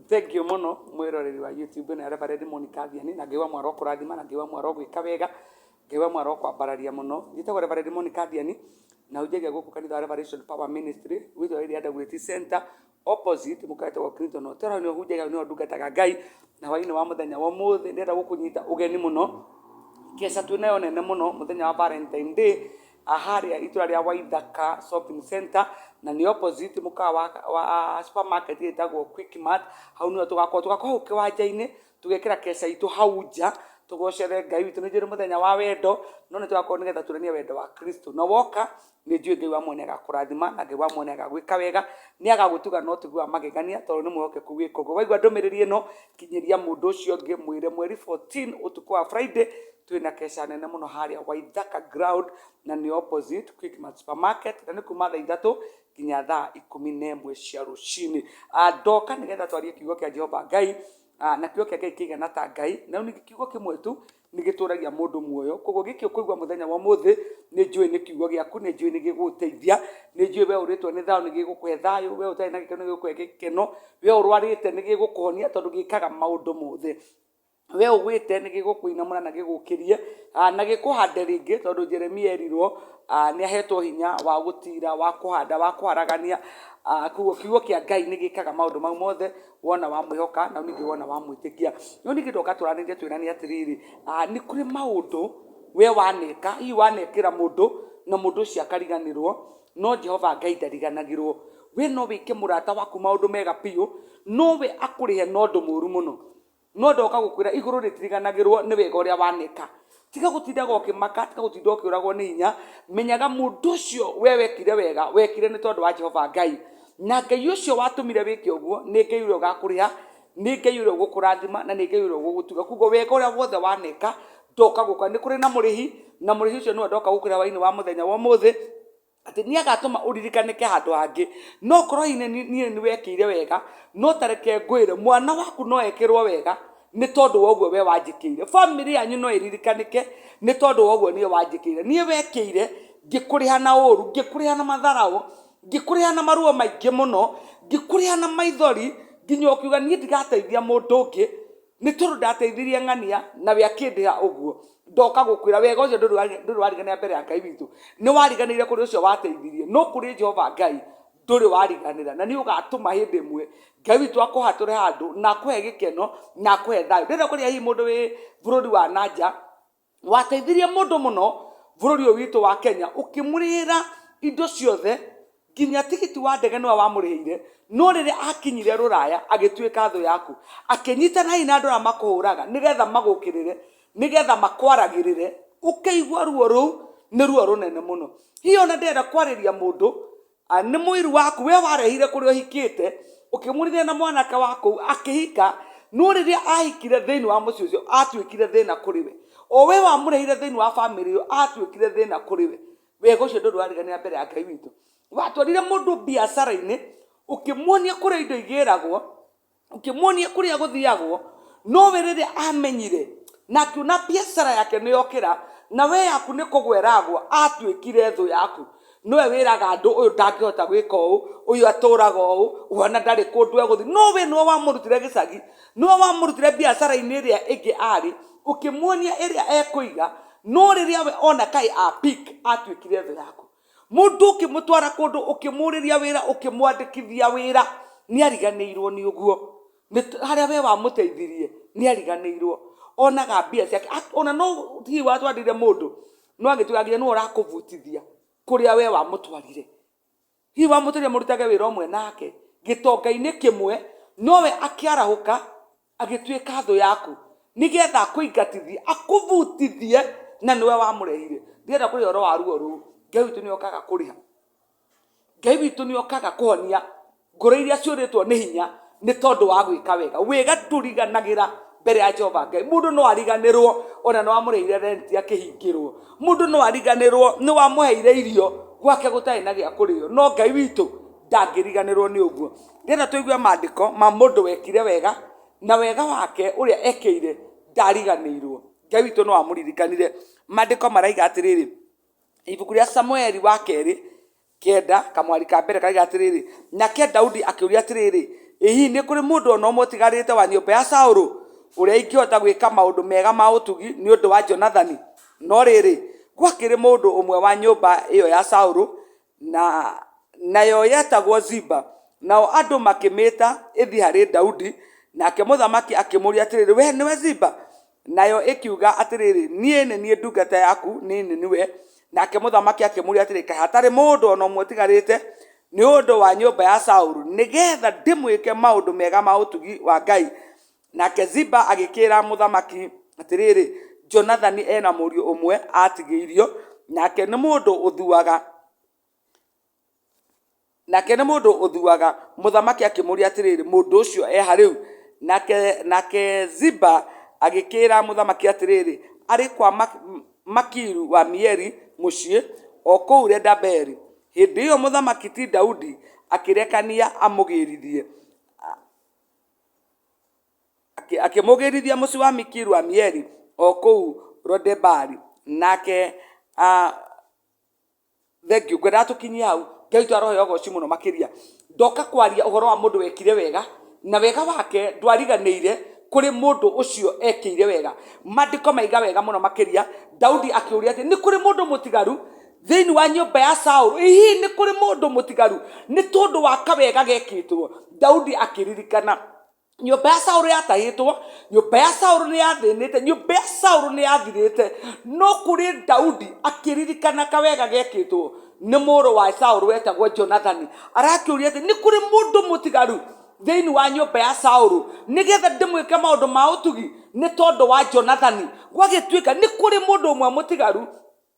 thank you muno mwiroreri wa youtube na reverend monica thiani na ngai wa mwara kurathima na ngai wa mwara gwika wega ngai wa mwara kwambararia muno njitagwo reverend monica thiani na unjagia guku kanitha wa revelation power ministry witho wa iria ndagwiti center opposite mukaete wa clinton hotel ni hunjagia ni ndungataga ngai na hwaini wa muthenya wa muthi ndenda gukunyita ugeni muno kesa twinayo nene muno muthenya wa valentine day harĩa itũra rĩa Waithaka shopping center na nĩ opposite mũkawa wa, wa supermarket ĩtagwo Quickmart hau nĩho tũgakorwo tũgakorwo hau kĩwanja-inĩ tũgekĩra keca itũ hau nja tũgocere ngai witũ nĩ njũĩ nĩ mũthenya wa wendo no nĩ tũgakorwo nĩgetha tuonanie wendo wa kristo na woka nĩ njũĩ ngai wa muoyo nĩ agakũrathima na ngai wa muoyo nĩ agagwĩka wega nĩ agagũtuga na ũtugi wa magegania tondũ nĩ mwĩhokeku gwĩka ũguo waigua ndũmĩrĩri ĩno kinyĩria mũndũ ũcio ũngĩ mwĩre mweri 14 ũtukũ wa friday twĩ na keca nene mũno harĩa waithaka ground na nĩ opposite quickmart supermarket na nĩ kuma thaa ithatũ nginya thaa ikũmi na ĩmwe cia rũcinĩ Ah, ndoka nĩgetha twarie kiugo kĩa jehova ngai Ah, na kiugo kĩa ngai kĩigana ta ngai na rĩu ningĩ kiugo kĩmwe tu nĩ gĩtũragia mũndũ muoyo koguo gĩkĩ ũkũigua mũthenya wa ũmũthĩ nĩ njũĩ nĩ kiugo gĩaku nĩ njũĩ nĩ gĩgũgũteithia nĩ njũĩ we ũrĩtwo nĩ thayũ nĩ gĩgũkũhe thayũ we ũtarĩ na gĩkeno nĩ gĩgũkũhe gĩkeno we ũrwarĩte nĩ gĩgũkũhonia tondũ gĩkaga maũndũ mothe we ũgwĩte nĩ gĩgũkũinamũra na gĩgũkĩrie ah, na gĩkũhande rĩngĩ tondũ jeremia erirwo ah, nĩ ahetwo hinya wa gũtira wa kũhanda wa kũharagania ah, koguo kiugo kĩa ngai nĩ gĩkaga maũndũ mau mothe wona wamwĩhoka na ningĩ wona wamwĩtĩkia no ningĩ ndoka tũranĩrie twĩrani atĩrĩrĩ ah, nĩ kũrĩ maũndũ we waneka hihi wanekĩra mũndũ na mũndũ ũcio akariganĩrwo no jehova ngai ndariganagĩrwo we no wĩke mũrata waku maũndũ mega biũ nowe akũrĩhe na ũndũ mũũru mũno no ndoka gũkwĩra igũrũ rĩtiriganagĩrwo nĩ wega ũrĩa wanĩka tiga gũtindaga ũkĩmaka tiga gũtinda ũkĩũragwo nĩ hinya menyaga mũndũ ũcio we wekire wega wekire nĩ tondũ wa jehova ngai na ngai ũcio watũmire wĩke ũguo nĩ ngai ũrĩa ũgakũrĩha nĩ ngai ũrĩa ũgũkũrathima na nĩ ngai ũrĩa ũgũgũtuga kuguo wega ũrĩa wothe wanĩka ndoka gũka nĩ kũrĩ na mũrĩhi na mũrĩhi ũcio nĩwe ndoka gũkũrĩha wainĩ wa mũthenya wa ũmũthĩ atĩ nĩ agatũma ũririkanĩke handũ hangĩ no korwo hihi nĩ- niĩ nĩ wekĩire wega no ta reke ngwĩre mwana waku no ekĩrwo wega nĩ tondũ wa ũguo we wanjĩkĩire bamĩrĩ yanyu no ĩririkanĩke nĩ tondũ wa ũguo niĩ wanjĩkĩire niĩ wekĩire ngĩkũrĩha na ũru ngĩkũrĩha na matharaũ ngĩkũrĩha na maruo maingĩ mũno ngĩkũrĩha na maithori nginya ũkiuga niĩ ndigateithia mũndũ ũngĩ Nĩ tondũ ndateithirie ng'ania, nawe akĩndĩha ũguo. Ndoka gũkwĩra, wega ũcio ndũrĩ wa- ndũrĩ wariganĩra mbere ya Ngai witũ. Nĩ wariganĩire kũrĩ ũcio wateithirie, no kũrĩ Jehova Ngai ndũrĩ wariganĩra. Na nĩ ũgaatũma hĩndĩ ĩmwe Ngai witũ akũhatũre handũ, na akũhe gĩkeno, na akũhe thayũ. Ndĩrenda kũria hihi mũndũ wĩ bũrũri wa na nja, wateithirie mũndũ mũno bũrũri ũyũ witũ wa kenya ũkĩmũrĩhĩra indo ciothe nginya tigiti wa ndege nĩwe wamũrĩhĩire no rĩrĩa akinyire rũraya agĩtuĩka thũ yaku akĩnyitana hihi na andũ arĩa makũhũraga nĩgetha magũkĩrĩre nĩgetha makwaragĩrĩre ũkĩigua ruo rũu nĩ ruo rũnene mũno hihi ona ndĩrenda kwarĩria mũndũ Ah, nĩ mũiru waku we warehire kũrĩa ũhikĩte ũkĩmũrithia na mwanake wa kũu akĩhika no rĩrĩa ahikire thĩinĩ wa mũciĩ ũcio atuĩkire thĩna kũrĩ we o we wamũrehire thĩinĩ wa bamĩrĩ ĩyo atuĩkire thĩna kũrĩ we wega ũcio ndũndũ wariganĩra mbere ya ngai witũ watwarire mũndũ biacara-inĩ ũkĩmuonia kũrĩa indo igĩragwo ũkĩmuonia kũrĩa gũthiagwo nowe rĩrĩa amenyire na akiona biacara yake nĩ yokĩra na we yaku nĩ kũgwa ĩragwa atuĩkire thũ yaku nowe wĩraga andũ ũyũ ndangĩhota gwĩka ũũ ũyũ atũraga ũũ ũhana ndarĩ kũndũ egũthiĩ no we nĩwe wamũrutire gĩcagi nĩwe wamũrutire biacara-inĩ ĩrĩa ĩngĩ arĩ ũkĩmuonia ĩrĩa ekũiga no rĩrĩa we ona kaĩ a pick atuĩkire thũ yaku mundu ukimutwara kundu ukimuriria wira ukimwandikithia wira ni ariganiirwo ni uguo haria we wamuteithirie ni ariganiirwo onaga mbia ciake Ak- ona no hihi watwarire mundu no agituga nginya niwe urakuvutithia kuria we wamutwarire hihi wamũtĩria mũrutage wĩra ũmwe nake gĩtonga-inĩ kĩmwe nowe akĩarahũka Agĩtuĩka thũ yaku nĩgetha akũingatithie, akũbutithie na nĩwe wamũrehire. Ndirenda kũrĩha ũhoro wa ruo rũu. Ngai witũ nĩ okaga kũrĩha. Ngai witũ nĩ okaga kũhonia ngoro iria ciũrĩtwo nĩ hinya nĩ tondũ wa gwĩka wega. Wega ndũriganagĩra mbere ya Jehova Ngai. Mũndũ no ariganĩrwo ona nĩ wamũrĩhire rent akĩhingĩrwo. Mũndũ no ariganĩrwo nĩ wamũheire irio gwake gũtarĩ na gĩa kũrĩo. No Ngai witũ ndangĩriganĩrwo nĩ ũguo. nĩgetha tũigue mandĩko ma mũndũ wekire wega na wega wake ũrĩa ekeire ndariganĩirwo. Ngai witũ no amũririkanire. Mandĩko maraiga atĩrĩrĩ, ibuku rĩa Samueli wa kerĩ kenda kamwari ka mbere karaiga atĩrĩrĩ, nake Daudi akĩũria atĩrĩrĩ, ĩ hihi nĩ kũrĩ mũndũ ona ũmwe ũtigarĩte wa nyũmba ya Saũlũ ũrĩa ingĩhota gwĩka maũndũ mega ma ũtugi nĩ ũndũ wa Jonathani? No rĩrĩ, gwakĩrĩ mũndũ ũmwe wa nyũmba ĩyo ya Saũlũ na nayo yetagwo Ziba. Nao andũ makĩmĩta ĩthiĩ harĩ Daudi, nake mũthamaki akĩmũria atĩrĩrĩ, we nĩwe Ziba? Nayo ĩkiuga atĩrĩrĩ, niĩ nĩ niĩ ndungata yaku, niĩ nĩ niwe. Nake mũthamaki akĩmũria atĩrĩ, kaĩ hatarĩ mũndũ o na ũmwe ũtigarĩte nĩ ũndũ wa nyũmba ya Saulu, nĩgetha ndĩmwĩke maũndũ mega ma ũtugi wa Ngai? Nake Ziba agĩkĩĩra mũthamaki atĩrĩrĩ, Jonathani e na mũriũ ũmwe aatigĩirio, nake nĩ mũndũ ũthuaga. Nake nĩ mũndũ ũthuaga. Mũthamaki akĩmũũria atĩrĩrĩ, Mũndũ ũcio e ha rĩu? Nake nake Ziba agĩkĩĩra mũthamaki atĩrĩrĩ, Arĩ kwa Makiru wa Mieri mũciĩ o kũu Leda-Beeri. Hĩndĩ ĩyo mũthamaki ti Daudi akĩrekania amũgĩĩrithie. akĩmũgĩrithia mũciĩ wa mikiru amieli o kũu rodebari nake ah, thengiũ ngwendaga tũkinyie hau ngai witũ arohe ũgoci mũno makĩria ndoka kwaria ũhoro wa mũndũ wekire wega na wega wake ndwariganĩire kũrĩ mũndũ ũcio ekĩire wega mandĩko maiga wega mũno makĩria daudi akĩũria atĩ nĩ kũrĩ mũndũ mũtigaru thĩinĩ wa nyũmba ya saũlũ hihi nĩ kũrĩ mũndũ mũtigaru nĩ tondũ wa kawega gekĩtwo daudi akĩririkana nyũmba ya saũlũ yatahĩtwo nyũmba ya saũlũ nĩ yathĩnĩte nyũmba ya saũlũ nĩ yathirĩte no kũrĩ daudi akĩririkana kawega gekĩtwo nĩ mũrũ wa saũlũ wetagwo jonathani arakĩũria atĩ nĩ kũrĩ mũndũ mũtigaru thĩinĩ wa nyũmba ya saũlũ nĩgetha ndĩmwĩke maũndũ ma ũtugi nĩ tondũ wa jonathani gwagĩtuĩka nĩ kũrĩ mũndũ ũmwe mũtigaru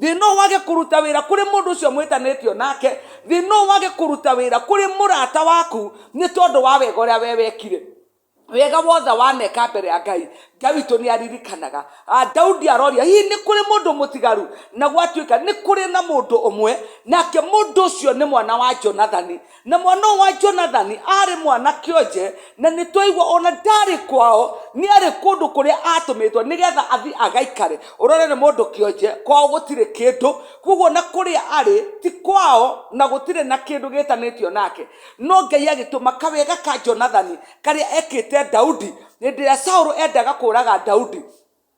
thĩ no wage kũruta wĩra kũrĩ mũndũ ũcio mwĩtanĩtio nake thĩ no wage kũruta wĩra kũrĩ mũrata waku nĩ tondũ wa wega ũrĩa we wekire wega wothe waneka mbere ya ngai ngai witũ nĩ aririkanaga Ah, daudi aroria hihi nĩ kũrĩ mũndũ mũtigaru na gwatuĩka nĩ kũrĩ na mũndũ ũmwe nake mũndũ ũcio nĩ mwana wa jonathani Na mwana ũyũ wa Jonathani aarĩ mwana kĩonje, na nĩ twaigua o na ndaarĩ kwao, nĩ arĩ kũndũ kũrĩa aatũmĩtwo nĩ getha athiĩ agaikare. Ũrore nĩ mũndũ kĩonje, kwao gũtirĩ kĩndũ, kwoguo na kũrĩa arĩ ti kwao na gũtirĩ na kĩndũ gĩtanĩtio nake. No Ngai agĩtũma kawega ka Jonathani karĩa ekĩte Daudi hĩndĩ ĩrĩa Saũlũ endaga kũũraga Daudi,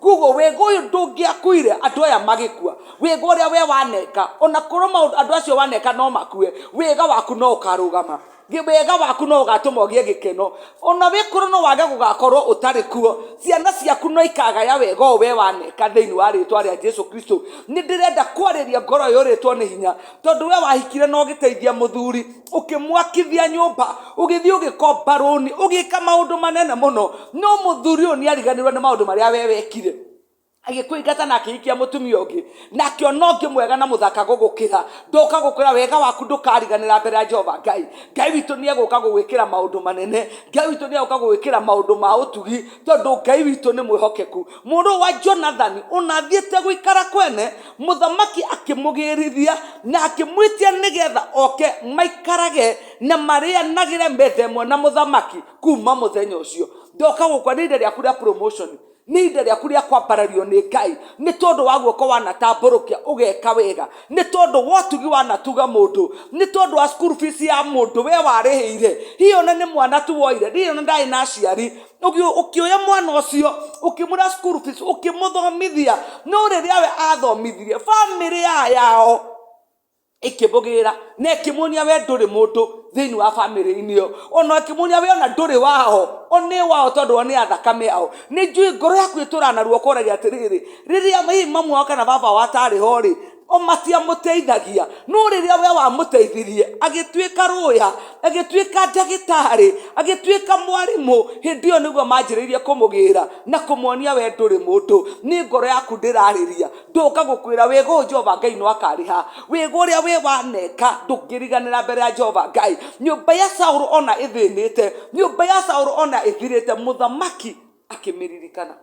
Kwoguo wega ũyũ ndũngĩakuire andũ aya magĩkua. Wega ũrĩa we waneka, ona korwo maũndũ andũ acio waneka no makue, wega waku no ũkarũgama. Wega waku no ũgatũma ũgĩe gĩkeno. Ona wĩkorwo no wage gũgakorwo ũtarĩ kuo, ciana ciaku no ikagaya wega ũyũ we waneka thĩiniĩ wa rĩtwa rĩa Jesu Kristo. Nĩ ndĩrenda kwarĩria ngoro ĩyũrĩtwo nĩ hinya, tondũ we wahikire na ũgĩteithia mũthuri. ũkĩmwakithia nyũmba ũgĩthiĩ ũgĩkomba rũni ũgĩka maũndũ manene mũno no mũthuri ũyũ nĩ ariganĩrwo nĩ maũndũ marĩa we wekire agĩkũingata na akĩhikia mũtumia ũngĩ na akĩona ũngĩ mwega na mũthaka gũgũkĩra ndoka gũkũra wega waku ndũkariganĩra mbere ya jehova ngai ngai witũ nĩ egũka gũgwĩkĩra maũndũ manene ngai witũ nĩ egũka gũgwĩkĩra maũndũ ma ũtugi tondũ ngai witũ nĩ mwĩhokeku mũrũ wa jonathani ũnathiĩte gũikara kwene mũthamaki akĩmũgĩrithia na akĩmwĩtia nĩgetha oke maikarage na marĩanagĩre metha ĩmwe na mũthamaki kuma mũthenya ũcio ndoka gũkwa nĩ ihinda rĩaku rĩa promotion nĩ ihinda rĩaku rĩa kwambarario nĩ ngai nĩ tondũ wa guoko wanatambũrũkia ũgeka wega nĩ tondũ wotugi wanatuga mũndũ nĩ tondũ wa school fees ya mũndũ we warĩhĩire hihi ona nĩ mwana tu woire hihi ona ndarĩ na aciari ũgĩ- ũkĩoya mwana ũcio ũkĩmũra school fees ũkĩmũthomithia no rĩrĩa we athomithirie bamĩrĩ ya yao ĩkĩmũgĩra na ĩkĩmuonia we ndũrĩ mũndũ thĩinĩ wa bamĩrĩ-inĩ ĩyo ona ĩkĩmuonia we ona ndũrĩ wao o nĩ wao tondũ o nĩ a thakame yao nĩ njũĩ ngoro yaku ĩtũraga na ruo ũkoragia atĩrĩrĩ rĩrĩa hihi mamu wao kana baba wao atarĩ ho rĩ o maciamũteithagia no rĩrĩa we wamũteithirie agĩtuĩka rũya agĩtuĩka ndagĩtarĩ agĩtuĩka mwarimũ hĩndĩ ĩyo nĩguo manjĩrĩirie kũmũgĩra na kũmuonia we ndũrĩ mũndũ nĩ ngoro yaku ndĩrarĩria ndũka gũkwĩra wĩgo ũyũ jehova ngai no akarĩha wĩgo ũrĩa wĩ waneka ndũngĩriganĩra mbere ya jehova ngai nyũmba ya saũlũ ona ĩthĩnĩte nyũmba ya saũlũ ona ĩthirĩte mũthamaki akĩmĩririkana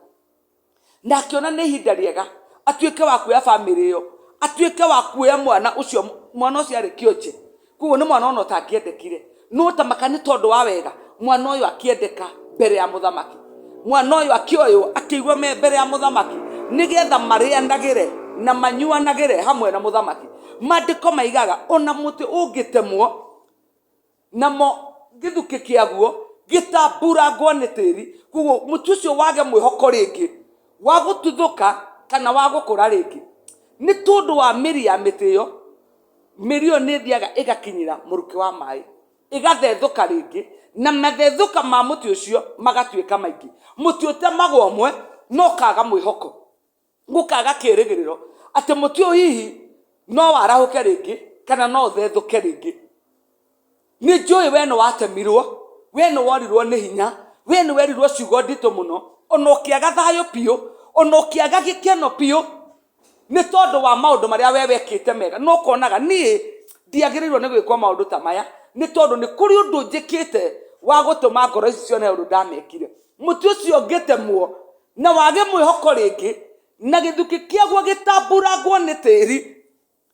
na akĩona nĩ ihinda rĩega atuĩke wa kuoya bamĩrĩ ĩyo atuĩke wa kuoya mwana ũcio mwana ũcio arĩ kĩonje koguo nĩ mwana ona ũtangĩendekire no ta maka nĩ tondũ wa wega mwana ũyũ akĩendeka mbere ya mũthamaki mwana ũyũ akĩoywo akĩigua me mbere ya mũthamaki nĩgetha marĩanagĩre na manyuanagĩre hamwe na mũthamaki mandĩko maigaga ona mũtĩ ũngĩtemwo namo gĩthukĩ kĩaguo gĩtambuurangwo nĩ tĩri, koguo mũtĩ ũcio wage mwĩhoko rĩngĩ wa gũtuthũka kana wa gũkũra rĩngĩ, nĩ tondũ wa mĩri ya mĩtĩ ĩyo, mĩri ĩyo nĩ ĩthiaga ĩgakinyĩra mũrukĩ wa maaĩ, ĩgathethũka rĩngĩ, na mathethũka ma mũtĩ ũcio magatuĩka maingĩ. Mũtĩ ũtemagwo ũmwe na ũkaga mwĩhoko. gũkaga kĩĩrĩgĩrĩro atĩ mũtĩ ũyũ hihi no warahũke rĩngĩ kana no ũthethũke rĩngĩ nĩ njũĩ we nĩ watemirwo we nĩ worirwo nĩ hinya we nĩ werirwo ciugo nditũ mũno ona ũkĩaga thayũ biũ ona ũkĩaga gĩkeno biũ nĩ tondũ wa maũndũ marĩa we wekĩte mega no ũkonaga niĩ ndiagĩrĩirwo nĩ gwĩkwo maũndũ ta maya nĩ tondũ nĩ kũrĩ ũndũ njĩkĩte wa gũtũma ngoro ici cione ũndũ ndamekire mũtĩ ũcio ũngĩtemwo na wage mwĩhoko rĩngĩ na gĩthukĩ kĩaguo gĩtamburangwo nĩ tĩri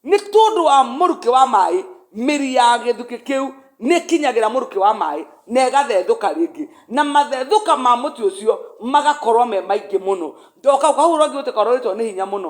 nĩ tondũ wa mũrukĩ wa maĩ mĩri ya gĩthukĩ kĩu nĩ kinyagĩra mũrukĩ wa maĩ na ĩgathethũka rĩngĩ na mathethũka ma mũtĩ ũcio magakorwo me maingĩ mũno ndoka kau kahurũrangi gũtĩ karorĩtwo nĩ hinya mũno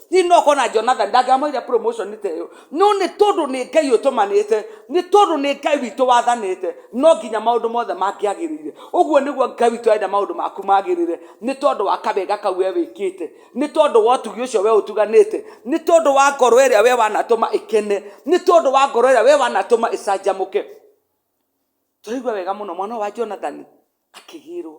hihi no ũkorwo na jonathan ndangĩamũheire promotion ta ĩyo no nĩ tondũ nĩ ngai ũtũmanĩte nĩ tondũ nĩ ngai witũ wathanĩte no nginya maũndũ mothe mangĩagĩrĩire ũguo nĩguo ngai witũ arenda maũndũ maku magĩrĩre nĩ tondũ wa kawega kau we wĩkĩte nĩ tondũ wa ũtugi ũcio we ũtuganĩte nĩ tondũ wa ngoro ĩrĩa we wanatũma ĩkene nĩ tondũ wa ngoro ĩrĩa we wanatũma ĩcanjamũke tũraigua wega mũno mwana ũyũ wa jonathan akĩgĩrwo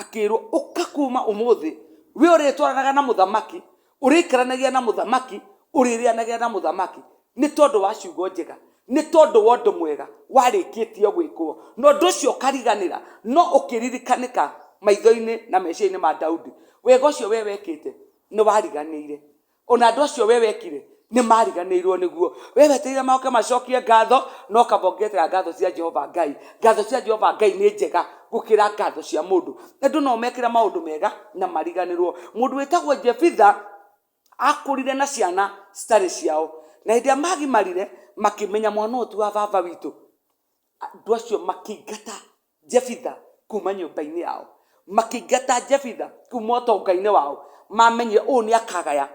akĩrwo ũka kuma ũmũthĩ we ũrĩtwaranaga na mũthamaki ũrĩikaranagia na mũthamaki ũrĩrĩanagia na mũthamaki nĩ tondũ wa ciugo njega nĩ tondũ wa ũndũ mwega warĩkĩtie gwĩkwo na ũndũ ũcio ũkariganĩra no ũkĩririkanĩka maitho-inĩ na meciria-inĩ ma daudi wega ũcio we wekĩte nĩ wariganĩire ona andå acio we wekire nä mariganĩirwo nĩguo we wetereire maoke macokie ngatho no kaba ũngĩetera ngatho cia jehova ngai ngatho cia jehova ngai nĩ njega gũkĩra ngatho cia mũndũ andũ no mekĩra maũndũ mega na mariganĩrwo mũndũ wĩtagwo jebitha akũrire na ciana citarĩ ciao na hĩndĩ ĩrĩa magimarire makĩmenya mwana ũyũ ti wa baba witũ andũ acio makĩingata Jefitha kuma nyũmba-inĩ yao makĩingata Jefitha kuma ũtonga-inĩ wao mamenyire ũũ nĩ akagaya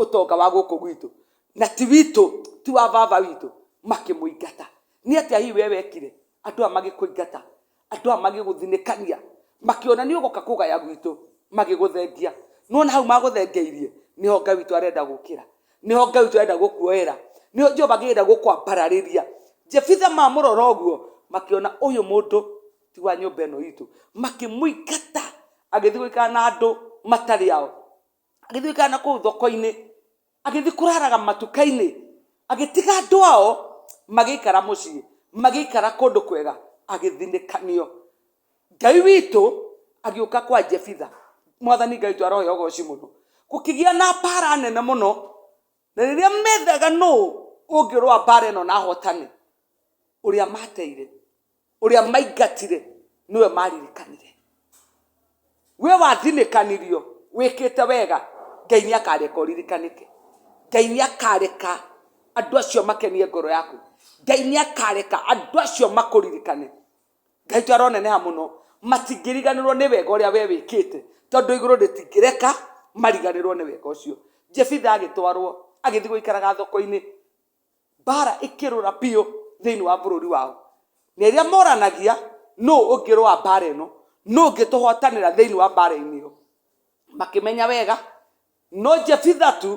ũtonga wa gũkũ gwitũ na ti witũ ti wa baba witũ makĩmũingata nĩ atĩa hihi we wekire andũ aya magĩkũingata andũ aya magĩgũthinĩkania makĩona nĩ ũgũka kũgaya gwitũ magĩgũthengia nona hau magũthengeirie nĩho ngai witũ arenda gũkĩra nĩho ngai ũcio arenda gũkuoera nĩho jehova akĩenda gũkwambararĩria jebitha mamũrora ũguo makĩona ũyũ mũndũ ti wa nyũmba ĩno itũ makĩmũingata agĩthiĩ gũikara na andũ matarĩ ao agĩthiĩ gũikara na kũu thoko-inĩ agĩthiĩ kũraraga matuka-inĩ agĩtiga andũ ao magĩikara mũciĩ magĩikara kũndũ kwega agĩthinĩkanio ngai witũ agĩũka kwa jebitha mwathani ngai witũ arohe ũgoci mũno gũkĩgĩa na mbara nene mũno na rĩrĩa methaga nũ ũngĩrũa mbara ĩno na hotane ũrĩa mateire ũrĩa maingatire nĩwe maririkanire we wathinĩkanirio wĩkĩte wega ngai nĩ akareka ũririkanĩke ngai nĩ akareka andũ acio makenie ngoro yaku ngai nĩ akareka andũ acio makũririkane ngai to aroneneha mũno matingĩriganĩrwo nĩ wega ũrĩa we wĩkĩte tondũ igũrũ rĩtingĩreka mariganĩrwo nĩ wega ũcio jefitha agĩtwarwo agĩthiĩ gũikaraga thoko-inĩ mbara ĩkĩrũra biũ thĩinĩ wa bũrũri wao na ĩrĩa moranagia nũ ũngĩrũa mbara ĩno nũ ũngĩtũhotanĩra thĩinĩ wa mbara-inĩ ĩyo makĩmenya wega No Jefitha tu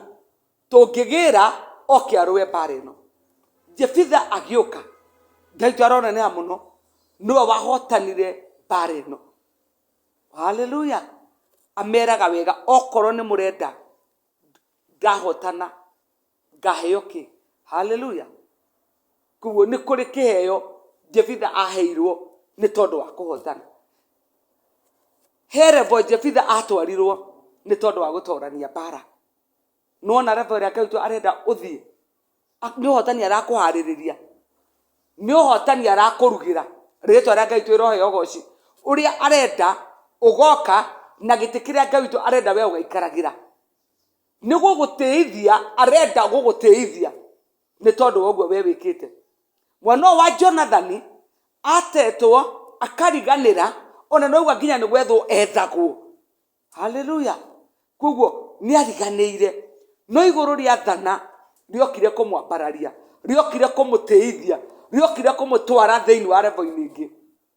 tũngĩgĩĩra oke arũe mbaara ĩno. Jefitha agĩũka. Ngai witũ aroneneha mũno. Nĩwe wahotanire mbaara ĩno. Haleluya! Ameeraga wega, okorwo nĩ mũrenda, ndahotana. ngaheo kĩ haleluya koguo nĩ kũrĩ kĩheo jebitha aheirwo nĩ tondũ wa kũhotana he revo jebitha atwarirwo nĩ tondũ wa gũtorania mbara nona revo ĩrĩa ngai witũ arenda ũthiĩ A- nĩ ũhotani arakũharĩrĩria nĩ ũhotani arakũrugĩra rĩtwa rĩa ngai witũ ĩroheo goci ũrĩa arenda ũgoka na gĩtĩ kĩrĩa ngai witũ arenda we ũgaikaragĩra nĩ gũgũtĩithia arenda gũgũtĩithia nĩ tondũ wa ũguo we wĩkĩte mwana ũyũ wa jonathani atetwo akariganĩra ona noigua nginya nĩ gwethwo ethagwo haleluya koguo nĩ ariganĩire no igũrũ rĩathana rĩokire kũmwambararia rĩokire kũmũtĩithia rĩokire kũmũtwara thĩinĩ wa revo-inĩ ingĩ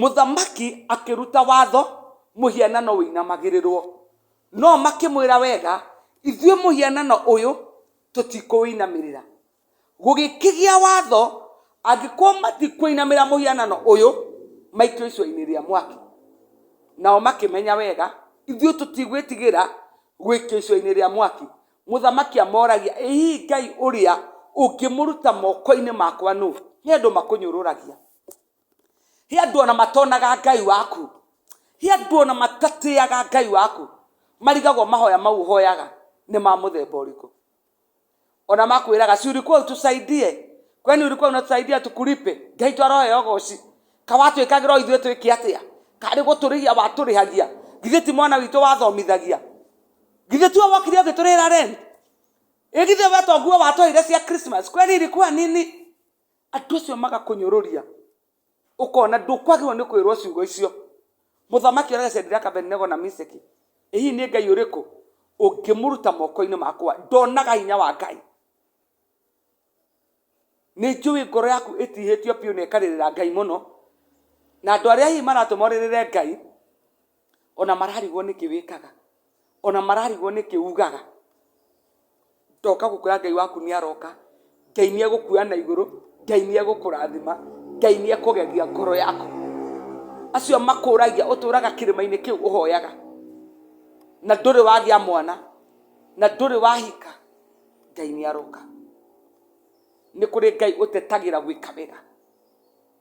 Mũthamaki akĩruta watho mũhianano ũinamagĩrĩrwo. No makĩmwĩra, Wega, ithuĩ mũhianano ũyũ tũtikũũinamĩrĩra. Gũgĩkĩgĩa watho, Angĩkorwo matikũinamĩrĩra mũhianano ũyũ, maikio icua-inĩ rĩa mwaki. Nao makĩmenya, Wega, ithuĩ tũtigwĩtigĩra gũikio icua-inĩ rĩa mwaki. Mũthamaki amoragia, Ĩ hihi Ngai ũrĩa ũngĩmũruta moko-inĩ makwa nũ? Nĩ andũ makũnyũrũragia. he andå ona matonaga ngai waku he andå ona matatĩaga ngai waku marigagwo mahoya mau ũhoyaga nĩ ma mũthemba ũrĩkũ ona makwĩraga si ulikuwa utusaidie kwani ulikuwa unatusaidia tukulipe ngai twaroheo goci kawatwĩkagĩra ithuĩ twĩke atĩa karĩ gũtũrĩhia watũrĩhagia githĩ ti mwana witũ wathomithagia githĩ tuo wokire ũgĩtũrĩra rent ĩgithĩ we toguo watũheire cia christmas kwani ilikuwa nini andũ acio magakũnyũrũria ũkona ndũkwagĩrĩrwo nĩ kwĩrwo ciugo icio mũthamaki ũrage cediraka benego na miseki ĩ hihi nĩ ngai ũrĩkũ ũngĩmũruta moko-inĩ makwa ndonaga hinya wa ngai nĩ njũĩ ngoro yaku ĩtihĩtio biũ na ĩkarĩrĩra ngai mũno na andũ arĩa hihi maratũma ũrĩrĩre ngai ona mararigwo nĩkĩ wĩkaga ona mararigwo nĩkĩ ugaga ndoka gũkwĩra ngai waku nĩ aroka ngai nĩ egũkuoya na igũrũ ngai nĩ egũkũrathima ngai nĩ ekũgegia ngoro yaku acio makũragia ũtũraga kĩrĩma-inĩ kĩu ũhoyaga na ndũrĩ wagĩa mwana na ndũrĩ wahika ngai nĩ aroka nĩ kũrĩ ngai ũtetagĩra gwĩka wega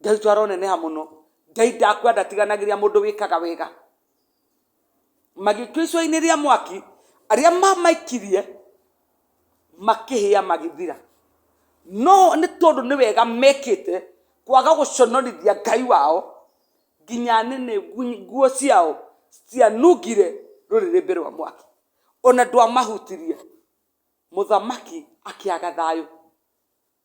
Ngai witũ aroneneha mũno. Ngai ndakua ndatiganagĩria mũndũ wĩkaga wega. Magĩtua icua-inĩ rĩa mwaki, arĩa mamaikirie makĩhĩa magĩthira. No nĩ tondũ nĩ wega mekĩte kwaga gũconorithia Ngai wao, nginya nĩnĩ nguo ciao citianungire rũrĩrĩmbĩ rwa mwaki, ona ndwamahutirie. Mũthamaki akĩaga thayũ.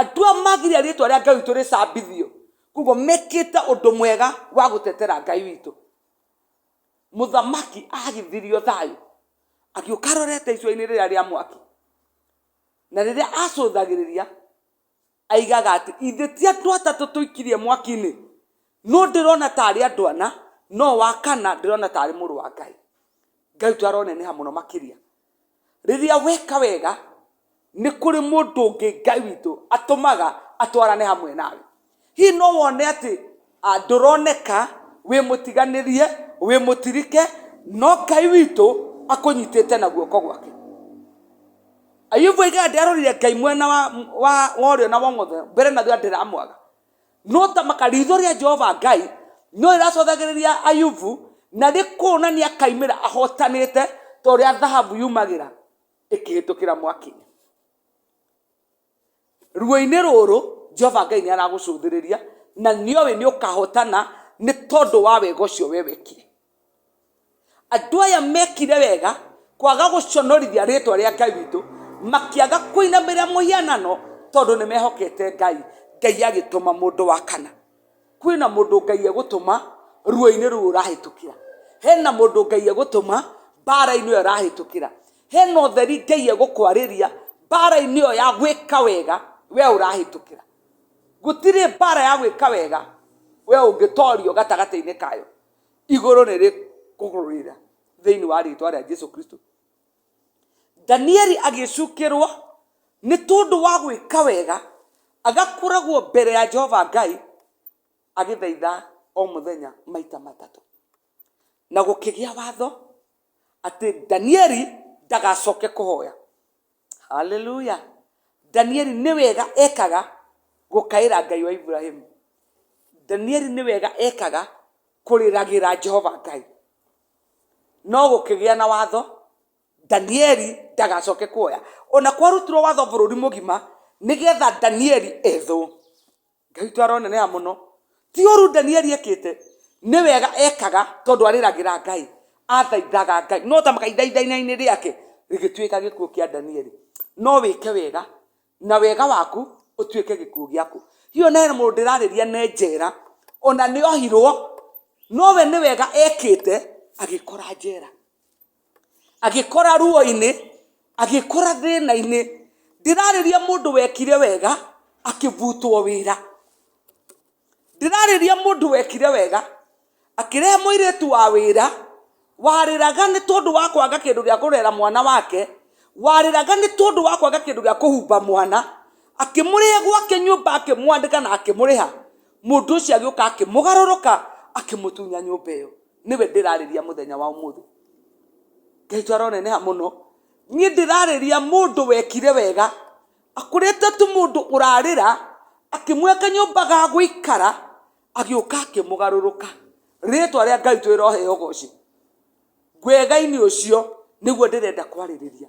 andũ a magiria rĩtwa rĩa ngai witũ rĩcambithio koguo mekĩte ũndũ mwega wa gũtetera ngai witũ mũthamaki agithirio thayũ agĩũka arorete icua-inĩ rĩrĩa rĩa mwaki na rĩrĩa acũthagĩrĩria aigaga atĩ ithe ti andũ atatũ tũikirie mwaki-inĩ no ndĩrona ta arĩ andũ ana no wa kana ndĩrona ta arĩ mũrũ wa ngai ngai twaroneneha mũno makĩria Rĩrĩa weka wega, nĩ kũrĩ mũndũ ũngĩ Ngai witũ atũmaga atwarane hamwe nawe. Hihi no wone atĩ ah, ndũroneka, wĩ mũtiganĩrie, wĩ mũtirike, no Ngai witũ akũnyitĩte na guoko gwake. Ayubu oigaga ndearorire Ngai mwena wa, wa, wa ũrĩo na wa ũmotho, mbere na thutha ndĩramwaga. no ta maka ritho rĩa jehova ngai no rĩracothagĩrĩria ayubu na rĩkuonania kaimĩra ahotanĩte ta ũrĩa thahabu yumagĩra ĩkĩhĩtũkĩra mwaki-inĩ ruo-inĩ rũrũ jehova ngai nĩ aragũcũthĩrĩria na nĩoĩ nĩ ũkahotana nĩ tondũ wa wega ũcio we wekire andũ aya mekire wega kwaga gũconorithia rĩtwa rĩa ngai witũ makĩaga kũinamĩrĩra mũhianano tondũ nĩ mehokete ngai ngai agĩtũma mũndũ wa kana kwĩna mũndũ ngai egũtũma ruo-inĩ rũu ũrahĩtũkĩra hena mũndũ ngai egũtũma mbara-inĩ ĩyo ũrahĩtũkĩra hena ũtheri ngai egũkwarĩria mbara-inĩ ĩyo ya gwĩka wega we ũrahĩtũkĩra gũtirĩ mbara ya gwĩka wega we ũngĩtorio gatagatĩ-inĩ kayo igũrũ nĩ rĩkũgũrũrĩra thĩinĩ wa rĩtwa rĩa jesu kristo danieli agĩcukĩrwo nĩ tondũ wa gwĩka wega agakoragwo mbere ya jehova ngai agĩthaitha o mũthenya maita matatũ na gũkĩgĩa watho atĩ danieli ndagacoke kũhoya haleluya danieli nĩ wega ekaga gũkaĩra ngai wa iburahimu danieli nĩ wega ekaga kũrĩragĩra jehova ngai no gũkĩgĩa na watho danieli ndagacoke kuoya ona kwarutirwo watho bũrũri mũgima nĩgetha danieli ethwo Ngai witũ aroneneha mũno. Ti ũru Danieli ekĩte, nĩ wega ekaga tondũ arĩragĩra Ngai, athaithaga Ngai. No ta kahinda ithainainĩ rĩake rĩgĩtuĩka gĩkuũ kĩa Danieli. No wĩke wega na wega waku ũtuĩke gĩkuũ gĩaku. Hihi na hena mũndũ ndĩrarĩria nĩ njera, ona nĩ ohirwo, no we nĩ wega ekĩte agĩkora njera. agĩkora ruo-inĩ agĩkora thĩna-inĩ ndĩrarĩria mũndũ wekire wega akĩbutwo wĩra ndĩrarĩria mũndũ wekire wega akĩrehe mũirĩtu wa wĩra warĩraga nĩ tondũ wa kwaga kĩndũ gĩa kũrera mwana wake warĩraga nĩ tondũ wa kwaga kĩndũ gĩa kũhumba mwana akĩmũrĩhe gwake nyũmba akĩmwandĩka na akĩmũrĩha mũndũ ũcio agĩũka akĩmũgarũrũka akĩmũtunya nyũmba ĩyo. nĩwe ndĩrarĩria mũthenya wa ũmũthĩ ngai aroneneha mũno niĩ ndĩrarĩria mũndũ wekire wega akũrĩte tu mũndũ ũrarĩra akĩmweka kanyũmba ga gũikara agĩũka akĩmũgarũrũka rĩtwa rĩa ngai twĩrohe ũgoci ngwega-inĩ ũcio nĩguo ndĩrenda kwarĩrĩria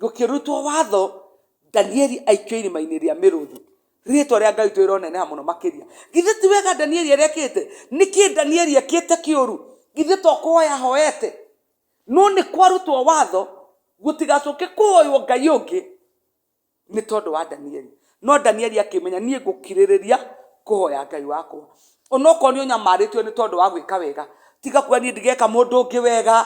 gũkĩrutwo watho danieli aikio irima-inĩ rĩa mĩrũthi rĩtwa rĩa ngai twĩroneneha mũno makĩria githĩ ti wega danieli arĩa ekĩte nĩkĩ danieli ekĩte kĩũru githĩ to kũhoya hoete no nĩ kwarutwo watho gũtigacũke kũhoywo ngai ũngĩ nĩ tondũ wa danieli No Danieli akĩmenya, Niĩ ngũkirĩrĩria kũhoya Ngai wakwa. Onokorwo nĩ ũnyamarĩtio nĩ tondũ wa gwĩka wega, tiga kuga niĩ ndigeka mũndũ ũngĩ wega,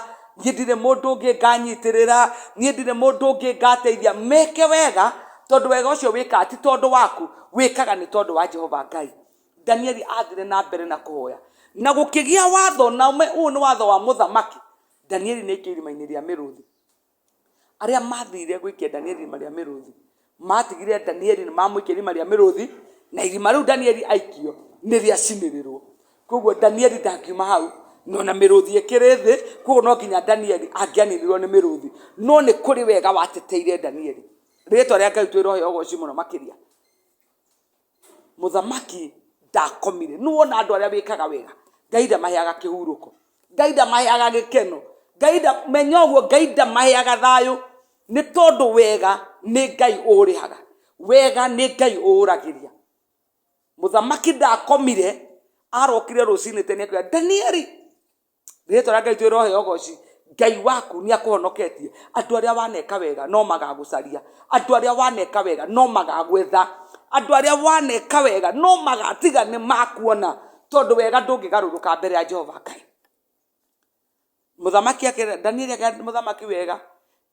niĩ ndirĩ mũndũ ũngĩ nganyitĩrĩra, niĩ ndirĩ mũndũ ũngĩ ngateithia. Meke wega, tondũ wega ũcio wĩkaga ti tondũ waku, wĩkaga nĩ tondũ wa Jehova Ngai. Danieli athire na mbere na kũhoya. Na gũkĩgĩa watho, na ũyũ nĩ watho wa mũthamaki, Danieli nĩ aikio irima-inĩ rĩa mĩrũthi. Arĩa mathire gũikia Danieli irima rĩa mĩrũthi, maatigire Danieli nĩ mamũikia irima rĩa mĩrũthi, na irima rĩu Danieli aikio nĩ rĩacinĩrĩrwo. Koguo Danieli ndangiuma hau, no na mĩrũthi ĩkĩrĩ thĩ, koguo no nginya Danieli angĩaninirwo nĩ mĩrũthi. No nĩ kũrĩ wega wateteire Danieli. Rĩĩtwa rĩa Ngai twĩrohe ũgooci mũno makĩria. mũthamaki ndakomire nĩ wona andũ arĩa wĩkaga wega ngai ndamaheaga kĩhurũko ngai ndamaheaga gĩkeno ngai nda menya ũguo ngai ndamaheaga thayũ nĩ tondũ wega nĩ ngai ũũrĩhaga wega nĩ ngai ũũragĩria mũthamaki ndakomire arokire rũcinĩ tene akĩra danieli rĩtwa rĩa ngai ithuĩ rohe ũgoci ngai waku nĩ akũhonoketie andũ arĩa waneka wega no magagũcaria andũ arĩa waneka wega no magagwetha andũ arĩa waneka wega no magatiga nĩ makuona tondũ wega ndũngĩgarũrũka mbere ya jehova ngai mũthamaki akĩra danieli akĩra mũthamaki wega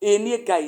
ĩĩ niĩ ngai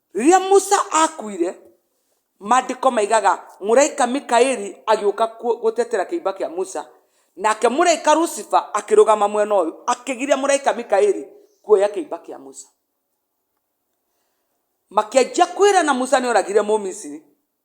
Rĩrĩa Musa aakuire, Maandĩko maigaga mũraika Mikaeli agĩũka gũtetera kĩimba kĩa Musa, nake mũraika Lucifer akĩrũgama mwena ũyũ, akĩgiria mũraika Mikaeli kuoya kĩimba kĩa Musa. Makĩanjia kwĩrana Musa nĩ oragire Mũmisiri,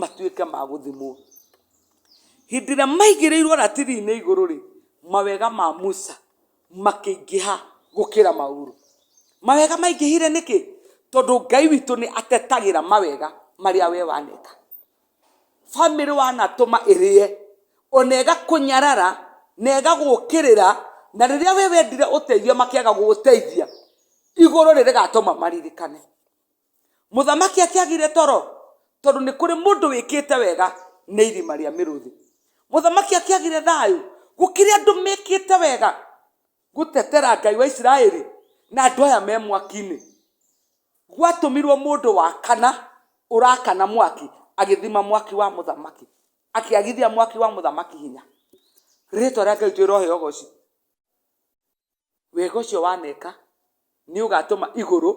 matuĩke ma gũthimwo hĩndĩ ĩrĩa maigĩrĩirwo ratiri-inĩ igũrũ rĩ mawega ma musa makĩingĩha gũkĩra maũru mawega maingĩhire nĩkĩ tondũ ngai witũ nĩ atetagĩra mawega marĩa we waneka bamĩrĩ wanatũma ĩrĩe ona ĩgakũnyarara na ĩgagũkĩrĩra na rĩrĩa we wendire ũteithio makĩaga gũgũteithia igũrũ rĩ rĩgatũma maririkane mũthamaki atiagire toro tondũ nĩ kũrĩ mũndũ wĩkĩte wega nĩ irima rĩa mĩrũthi mũthamaki atiagire thayũ gũkĩrĩ andũ mekĩte wega gũtetera ngai wa isiraeli na andũ aya me mwaki-inĩ gwatũmirwo mũndũ wa kana ũrakana mwaki agĩthima mwaki wa mũthamaki akĩagithia mwaki wa mũthamaki hinya rĩtwa rĩa ngai twĩrohe ogoci wega ũcio waneka nĩ ũgatũma igũrũ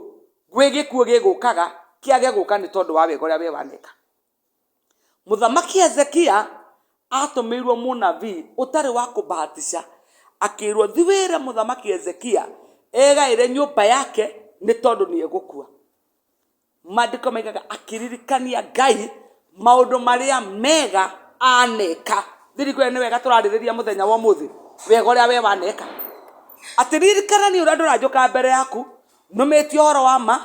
gwĩ gĩkuũ gĩgũkaga kĩage gũka nĩ tondũ wa wega ũrĩa we waneka. Mũthamaki Hezekia atũmĩirwo mũnabii ũtarĩ wa kũbahatisha, akĩrwo thi wĩre mũthamaki Hezekia egaĩre nyũmba yake nĩ tondũ nĩ egũkua. Maandĩko maigaga akĩririkania Ngai maũndũ marĩa mega aneka. Thiri kwĩrĩ nĩ wega tũrarĩrĩria mũthenya wa ũmũthĩ wega ũrĩa we waneka. Atĩ ririkana niĩ ũrĩa ndũranjũka mbere yaku nũmĩtie ũhoro wa ma,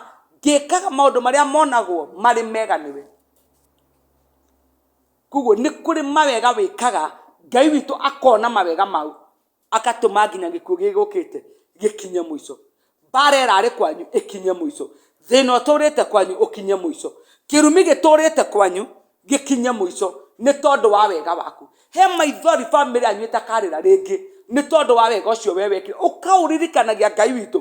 ngĩkaga maũndũ marĩa monagwo marĩ mega nĩwe. Koguo nĩ kũrĩ mawega wĩkaga Ngai witũ akona mawega mau. agatũma nginya gĩkuũ gĩgũkĩte gĩkinye mũico mbara ĩrarĩ kwanyu ĩkinye mũico thĩna ũtũrĩte kwanyu ũkinye mũico kĩrumi gĩtũrĩte kwanyu gĩkinye mũico nĩ tondũ wa wega waku he maithori bamĩrĩ yanyu ĩtakarĩra rĩngĩ nĩ tondũ wa wega ũcio we wekire ũkaũririkanagia ngai witũ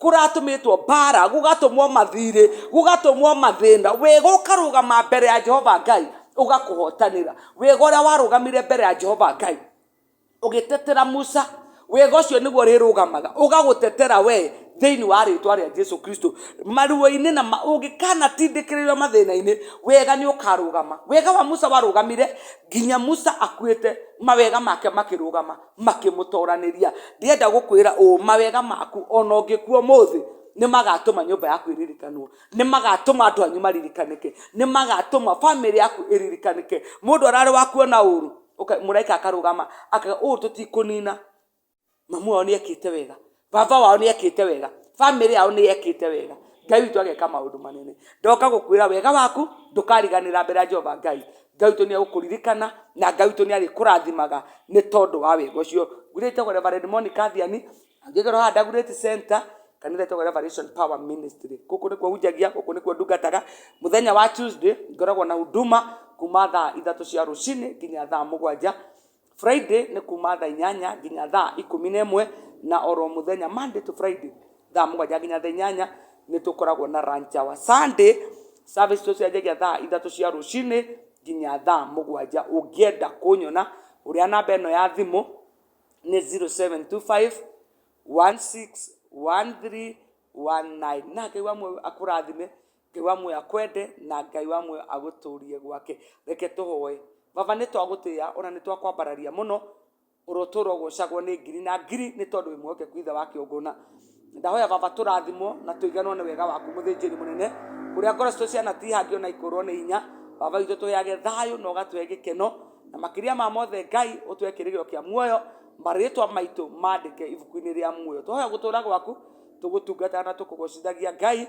kũratũmĩtwo mbara gũgatũmwo mathirĩ gũgatũmwo mathĩna wega ũkarũgama mbere ya jehova ngai ũgakũhotanĩra wega ũrĩa warũgamire mbere ya jehova ngai ũgĩtetera musa wega ũcio nĩguo rĩrũgamaga ũgagũtetera we thĩinĩ wa rĩtwa rĩa jesu kristo maruo-inĩ na ma- ũngĩkanatindĩkĩrĩrio mathĩna-inĩ wega nĩ ũkarũgama wega wa musa warũgamire nginya musa akuĩte mawega make makĩrũgama makĩmũtoranĩria ndĩenda gũkwĩra ũũ mawega maku ona ũngĩkua ũmũthĩ nĩ magatũma nyũmba yaku ĩririkanwo nĩ magatũma andũ anyu maririkanĩke nĩ magatũma bamĩrĩ yaku ĩririkanĩke mũndũ ararĩ wa kuona ũru mũraika akarũgama akaga ũũ tũtikũnina mamu wao nĩ ekĩte wega baba wao nä ekĩte wega bamĩrĩ yao nä ekĩte wega ngai witũ ageka maũndũ manene ndoka gũkwĩra wega waku ndũkariganĩra mbere ya jehova ngai ngai witũ nĩ egũkũririkana na ngai witũ nĩ arĩkũrathimaga nĩ tondũ wa wega ũcio ngwĩra ĩtagwo reverend monica thiani angĩkorwo haha ndagurĩti center kanitha ĩtagwo revelation power ministry gũkũ nĩkuo hunjagia gũkũ nĩkuo ndungataga mũthenya wa tuesday ngoragwo na huduma kuma thaa ithatũ cia rũcinĩ nginya thaa mũgwanja Friday nĩ kuma thaa inyanya nginya thaa ikũmi na ĩmwe na oro mũthenya Monday to Friday thaa mũgwanja nginya thaa inyanya nĩ tũkoragwo na lunch hour. Sunday service tũcianjagia thaa ithatũ cia rũcinĩ nginya thaa mũgwanja. Ũngĩenda kũnyona hũrĩra namba ĩno ya thimũ nĩ zero seven two five one six one three one nine na Ngai akũrathime Ngai wa muoyo akwende na Ngai wa muoyo agũtũrie gwake. Reke tũhoe. Baba nĩ twagũtĩa ona nĩ twakwambararia mũno ũrotũra ũgocagwo nĩ ngiri na ngiri nĩ tondũ wĩ mwehokeku ithe wa kĩũngũna ndahoya baba tũrathimwo na tũiganwo nĩ wega waku mũthĩnjĩri mũnene ũrĩa ngoro citũ ciana tihangi ona ikũrwo nĩ hinya baba witũ tũheage thayũ na ũgatũhe gĩkeno na makĩria ma mothe ngai ũtũhe kĩrĩgĩro kĩa muoyo marĩtwa maitũ mandĩke ibuku-inĩ rĩa muoyo tũhoya gũtũra gwaku tũgũtungataga na tũkũgocithagia ngai